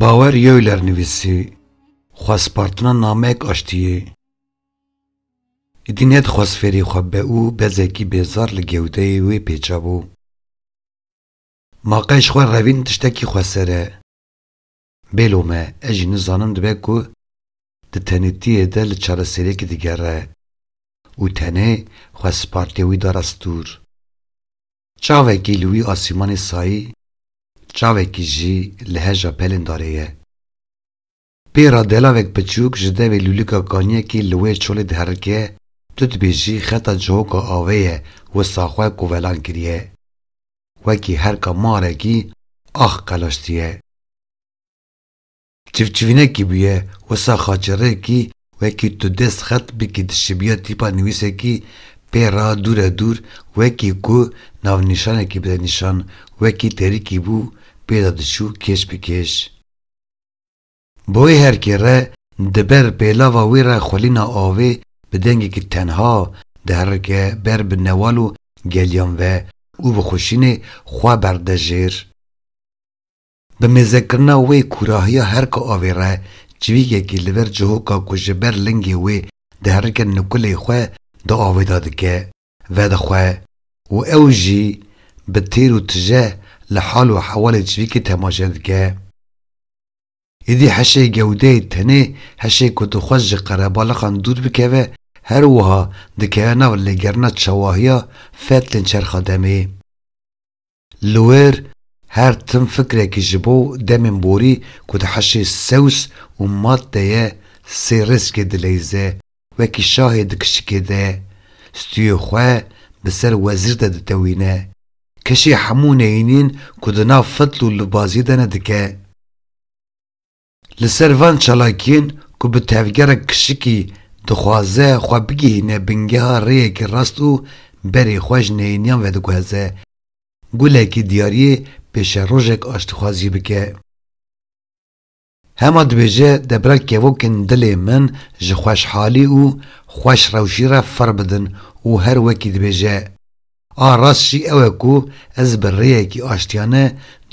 Bawer Yeuler nivîsî, Xwespartina namek aştiyê, êdî nedixwest fêrî xwe be û bezekî bêzar li gewdeyê wê pêçabû. Ma qey ji xwe revîn tiştekî xweser e. Bêlo me, ez jî nizanim dibe ku di tenêtiyê de li çareseriyekê digere û tenê xwe spartê wî dara stûr. Çavekî li wî asîmanê sayî, çavekî jî li heja pelên darê ye. Pê re delavek piçûk ji devê lûlika kaniyekî li wê çolê diherike, tu dibêjî xeta cihoka avê ye wisa xwe kovelan kiriye. wekî herka marekî ax qelaştiye. Çivçivînekî bûye wisa xaçerêkî wekî tu dêst xet bikî dişibîya tîpa nivîsekî pê ra dûre dûr wekî ku navnîşanekî bide nîşan wekî terîkî bû pê de diçû kêş bi kêş. Boî her kê re di ber pêlava wî re xwelîna avê bi dengekî tenha diherike ber bi newal û geliyan ve û bi xuşînê xwe berde jêr. Bi mêzekirina wê kûrahiya herka avê re çivîkekî li ber cihoka ku ji ber lingê wê diherike nukulê xwe di avê de dike. vedixwe û ew jî bi têr û tije li hal û hewalê civîkê temaşe dike. Êdî heşê gewdeyê tenê heşê ku dixwest ji qerebalixan dûr bikeve her wiha dikeve nav lêgerina çawahiya fetlên çerxa demê. Li wir her tim fikrekî ji bo demên borî ku di heşê sewz û mat de ye sê rêzkê dileyze, wekî şahê di kişikê de stûyê xwe bi ser wezîr de ditewîne. Keşê hemû neyînên ku di nav fetl û lubaziyê de ne dike. Li ser van çalakiyên ku bi tevgerek kişikî dixwaze xwe bigihîne bingeha rêyekî rast û berî xwe ji neyêniyan vediguheze, gulekî diyariyê pêşerojek aştîxwazî bike. Hema dibêje debra kevokên dilê min ji xweşhalî û xweş rewşî re fir bidin û her wekî dibêje, A rast jî ew e ku ez bi rêyekî aştiyane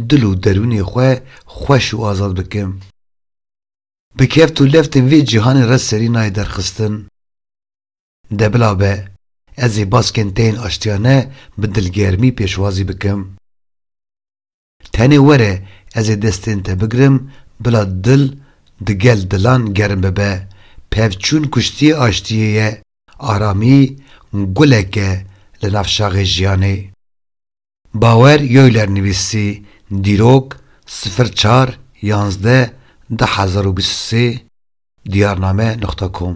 dil û derûnê xwe xweş û azad bikim. Bi keft û leftên vê cîhanê re serî nayê derxistin. De bila be, ez ê baskên te yên aştiyane bi dilgermî pêşwazî bikim. Tenê were ez ê destên te bigirim bila dil di gel dilan germ bibe. Pevçûn kuştiyê aştiyê ye, aramî gulek e li nav şaxê jiyanê. Bawer Yoyler nivîsî, Dîrok, sifir çar yazdeh du hezar û bîst û sê, diyarname nuqta com.